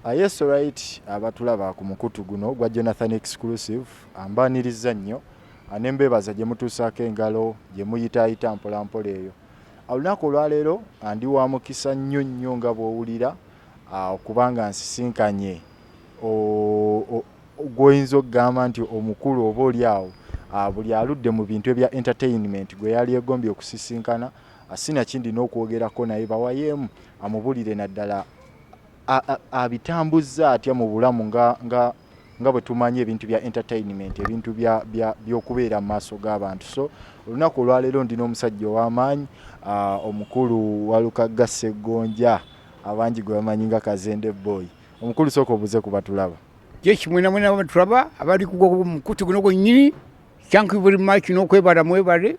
A yes right abatulaba ku mukutu guno gwa Jonathan Exclusive ambaanirizza nnyo ne mbeebaza gye mutuusaako engalo gye muyitaayita mpolampola eyo. Olunaku olwaleero ndi wa mukisa nnyo nnyo nga bw'owulira okuba nga nsisinkanye gw'oyinza okugamba nti omukulu oba oli awo buli aludde mu bintu ebya entertainment gwe yali egombye okusisinkana sinakindi n'okwogerako naye bawayeemu amubulire naddala abitambuzza atya mu bulamu nga nga nga bwe tumanyi ebintu bya entertainment ebintu by'okubeera mu maaso g'abantu so olunaku olwaleero ndi n'omusajja ow'amaanyi ah, omukulu walukagga sseggonja abangi gwe bamanyi nga kazende boy omukulu sooka obuze ku batulaba kyekimwenamwena batulaba abali kugwa mukutu guno gwennyini thank you very much n'okwebala mwebale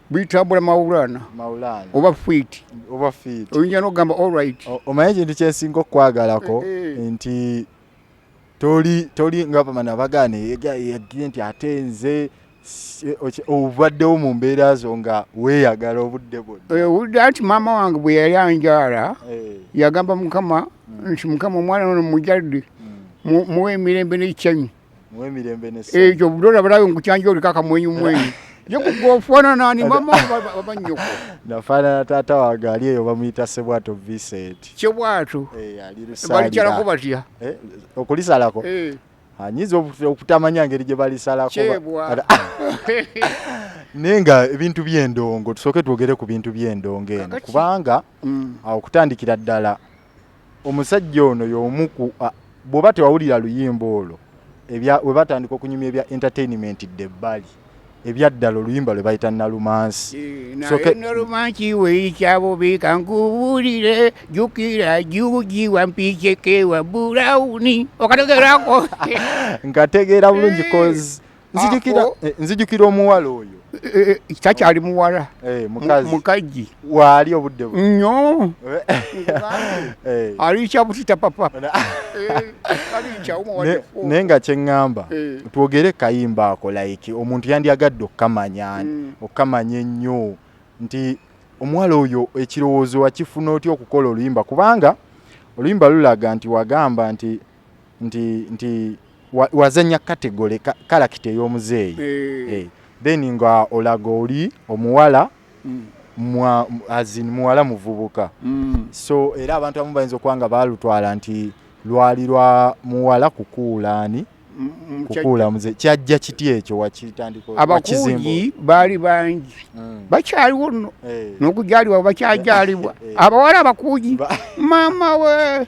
buyitambula mawulana oba fiiti oba fiiti oyinza n'okugamba allright omanyi ekintu kyensinga okukwagalako eh, eh. nti toli toli nga bamana bagaana yagire nti ate nze obaddewo mu mbeera zo nga weeyagala obudde bwonna eh, anti maama wange bwe yali anjaala yagamba mukama mm. nti mukama omwana ono mujalde mm. muwe emirembe n'ekikyanyi ekyo budola balabe nkukyanja oliko akamwenyu mwenyu yekugofananani mama abanyoko nafanana taata wange ali eyo bamuyita sebwato vincent kyebwato eh, balikyalako batya eh, okulisalako eh. anyiza okutamanya ngeri gye balisalako naye nga ebintu by'endongo tusooke twogere ku bintu by'endongo eno kubanga mm. okutandikira ddala Omusajja ono y'omu ku a, bw'oba tewawulira luyimba olwo, ebya we batandika okunyumya ebya entertainment dda ebbali, ebyaddala oluyimba lwe bayita Nalumansi. So Naye ke- nalumansi weyikyabube kankubuulire jjukira juuji wampiceke wa bulawuni okategerako nkategeera bulungi cause nzijukira Apo. eh, nzijukira omuwala oyo Eh, eh, takyali muwala eh, Mu- mukazi mukazi waali obudde bu nnyo Eh. aliikya butita papa Ona- Eh, aliikya Ne- omuwadeko naye nga kyeŋŋamba Eh. twogere kayimba ako like omuntu yandyagadde okukamanya Mm. okukamanya ennyo nti omuwala oyo ekirowoozo wakifuna otya okukola oluyimba kubanga oluyimba lulaga nti wagamba nti nti nti wazanya kategole kalakita ey'omuzeeyi eh. eh, then nga olaga oli omuwala mm. mwa azin muwala muvubuka mm. so era abantu abamu bayinza okuba nga baalutwala nti lwali lwa muwala kukuulaani mm, kukuula muze kyajja kiti ekyo wakitandikaabakuuyi baali bangi bakyaliwo nno eh. n'okujalibwa bakyajaalibwa eh. abawala abakuuyi maama we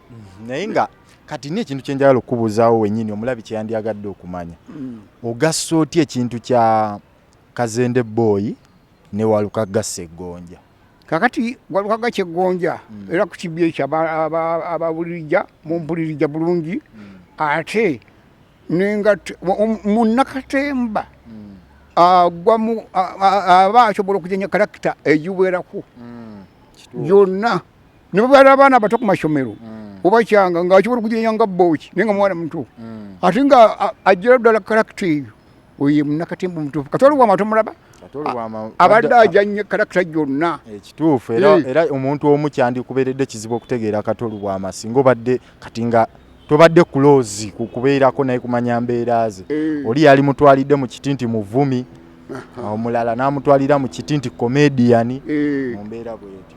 mm-hmm. naye nga kati ni ekintu kyenjagala okukubuuzaawo wenyini omulabi kyeyandyagadde okumanya mm. ogassa otya ekintu kya kazende booyi ne walukagga seggonja kakati walukagga kyeggonja mm. era ku kibya ekyo abawulirija mumpulirija bulungi mm. ate nengat munakatemba agwamu aba asobola okujanya kalakita egiwerako yonna ne bwe baali abaana abato ku mashomero obakyanga nga asobola okugirenya nga booki naye nga mwana muto ate nga ajjira ddala karakita eyo oyo ye munnakatemba omutuufu kati oli wama tomulaba abadde ajanye kalakita gyonna ekituufu eh, era eh. omuntu omu kyandikubeeredde kizibu okutegeera katolu bwama singa obadde kati nga tobadde kuloozi kukubeerako naye kumanya mbeera ze eh. oli yali mutwalidde mu kiti nti muvumi omulala n'amutwalira mu kiti nti komediyani mu mbeera bwetyo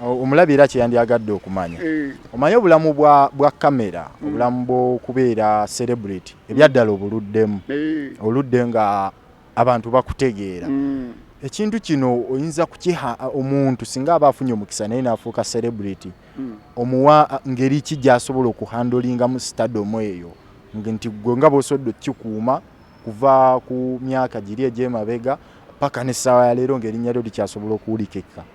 omulabi era kyeyandyagadde okumanya eh. omanye obulamu bwa kamera hmm. obulamu bwokubeera celebrity ebyaddala obuluddemu eh. oludde nga abantu bakutegeera hmm. ekintu kino oyinza kukiha omuntu singa aba afunye omukisa naye nafuuka celebrity hmm. omuwa ngeri ki gyasobola okuhandolingamu stadomu eyo nti gwe nga bwosobodde okukikuuma kuva ku myaka giri egyemabega paka nessaawa yaleero ngaerinnya lyo likyasobola okuwulikeka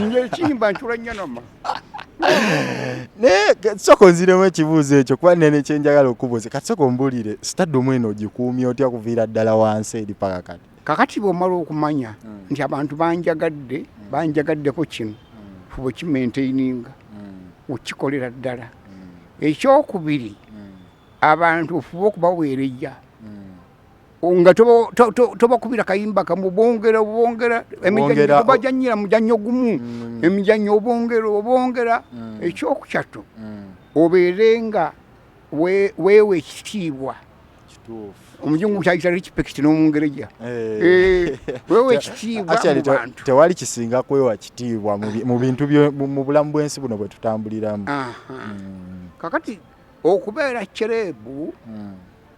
nze ekiyimba ncula nnyo noma naye soko nziremu ekibuuzo ekyo kuba nene kyenjagala okubuuza kati soko mbulire sitadumu eno ogikuumya otya kuviira ddala wansi eri paka kati kakati bwomala okumanya hmm. nti abantu banjagadde hmm. banjagaddeko kino hmm. fuba okimaintaininga okikolera ddala ekyokubiri abantu ofuba okubaweerejja nga tobakubira kayimba kamu bongera obongera emijanyira mujannyo gumu mm. emijannyo obongera obongera mm. ekyokukyattu mm. obeere nga weewa ekitiibwa omujungu kyayita respect n'omungereja eh. eh, wewa ekitiibwa mu bantu tewali kisinga kwewa kitiibwa mu bintu mu bulamu bw'ensi buno bwe tutambuliramu hmm. kakati okubeera cerebu hmm.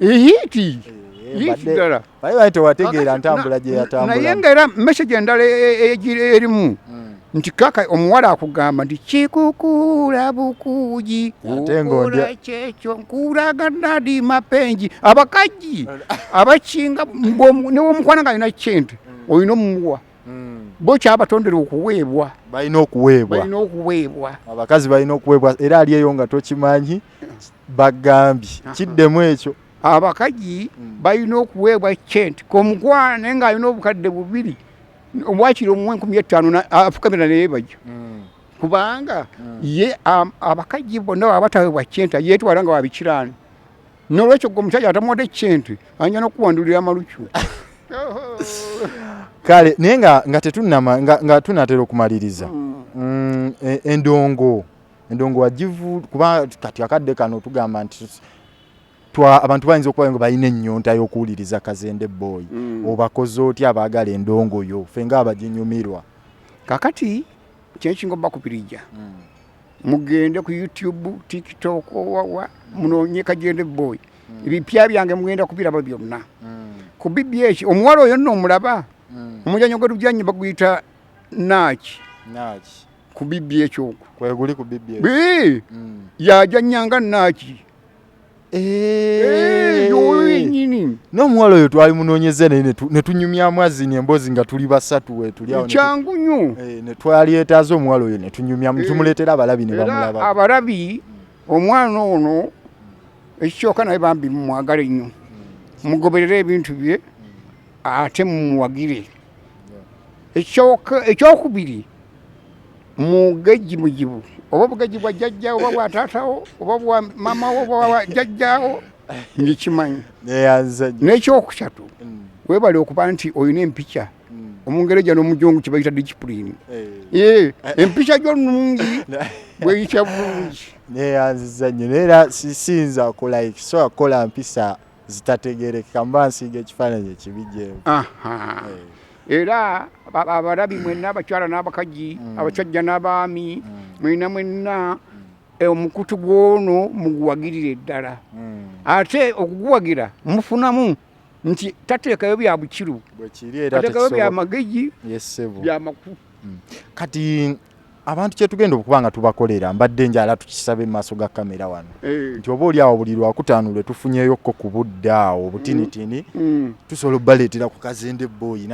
ehiiti ddala naye tewategeera ntambula gye yatambula naye nga era message endala erimu nti kaka omuwala akugamba nti kikukuula bukuugi okola kyekyo nkulaga nadi mapengi abakaji abakinga newomukwana nga alina kyente olina omuwa bo kyabatondera okuweebwa balina okuweebwa balina okuweebwa abakazi balina okuweebwa era ali eyo nga tokimanyi bagambye kiddemu ekyo abakaji mm. balina okuweebwa cent komukwano naye nga alina obukadde bubiri obwakiri omu enkumi ettaano afukamira naye bajja mm. kubanga mm. ye abakaji bonna baba bataweebwa cent yetwala nga wabikiraano nolwekyo gwe omusajja atamuwadde cent anja nokuwandulira amalucu kale naye nga tetunama nga tunatera okumaliriza e, endongo endongo wagivu kuba kati akadde kano tugamba nti twa abantu bayinza okuba nga balina ennyonta y'okuwuliriza kazende boy mm. obakoze otya abaagala endongo yo fe nga abaginyumirwa kakati kyekinga obakupirija mm. mugende ku youtube tiktok owawa munonye kajende boy mm. ebipya mm. byange mugenda kubiraba byonna mm. ku bibi eki omuwala oyo nno omulaba mm. omuzanyo gwe tujanye baguyita naaki naaki ku bibbi ekyo kweguli ku bibbi mm. yaja nyanga naki eh. nomuwala oyo twali munonyeze naye netunyumyamu azini embozi nga tuli basatu wetulkyangu nyo eh, netwalyetaza omuwala oyo netunyumyamu eh. tumuletera abalabi nebamulaba abalabi omwana ono ekikyoka naye bambi mumwagale nnyo mugoberere ebintu bye ate mumuwagire ekyokubiri mugejji mujibu oba obugejji bwa jajja oba bwa taatawo oba bwa mamawo oba bwa jajjawo ngikimanyi nekyokusatu mm. webale okuba nti olina empica omungereja nomujungu kibayita discipline eh. Eh, empica gyo nungi bweyitya bulungi neyanziza nyo naye era sisinza kulike sobola kukola mpisa zitategerekeka mba nsiiga ekifaananyi ekibi gyebu era abarabi mwenna abakyala n'abakaji mm. abasajja n'abaami mm. mwena mwenna mm. eh, omukutu gwono muguwagirire ddala ate okuguwagira mufunamu nti tateekayo bya bukiru atekayo bya magezi bya makufu Hmm. Kati abantu kyetugenda okuba nga tubakolera mbadde njala tukisabe mu maaso ga kamera wano eh. nti oba oli awo buli lwakutaano lwe tufunyeyokko ku budde awo obutinitini mm. mm. tusobola obaleetera ku kazende boyi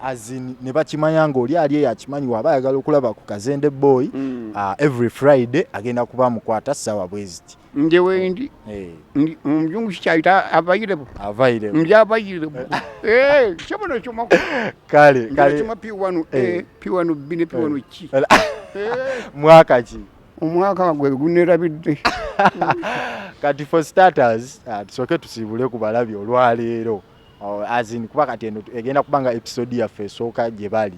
azin ne bakimanya ng'oli ali eyo akimanyi waaba ayagala okulaba ku kazende boyi mm. ah, every friday agenda kuba mukwata ssaawa bweziti nje wendi eh. ndi omujungu kikyaita avairebo avairebo ndi avairebo eh chama no chuma kale kale chuma pi wanu eh, eh pi wanu bine pi eh. wanu chi eh. mwaka chi omwaka gwe gunerabidde kati for starters uh, ah, tusoke tusibule ku balabi olwaleero oh, as in kuba kati eno egenda kubanga episode yaffe esooka gye bali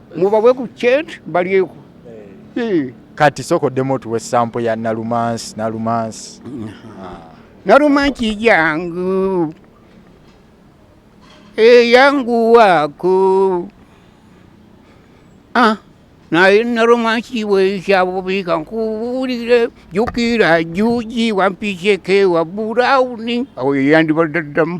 mubawe ku cent balyeko eh. kati soko demo tuwe sampo ya nalumansi nalumansi ah. nalumansi yangu eyangu eh, wako ah naye nalumansi weisabubika nkuwulire jukira juji wampiseke wa burauni awo yeyandibadaddamu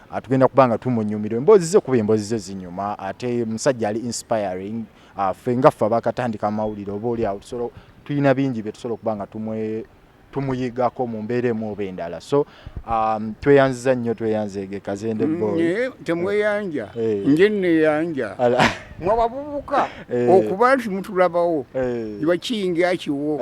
atugenda kuba nga tumunyumira emboozi ze kuba emboozi ze zinyuma ate musajja ali inspiring ah, ffe nga ffe abakatandika amawulire oba oli awo tusobola tulina bingi bye tusobola okuba nga tumwe tumuyigako mu mbeera emu oba endala so um, tweyanziza nnyo tweyanzeege kazende mm, boy eh, temweyanja eh. nje neyanja mwe abavubuka eh. okuba nti mutulabawo iba kiyingi akiwo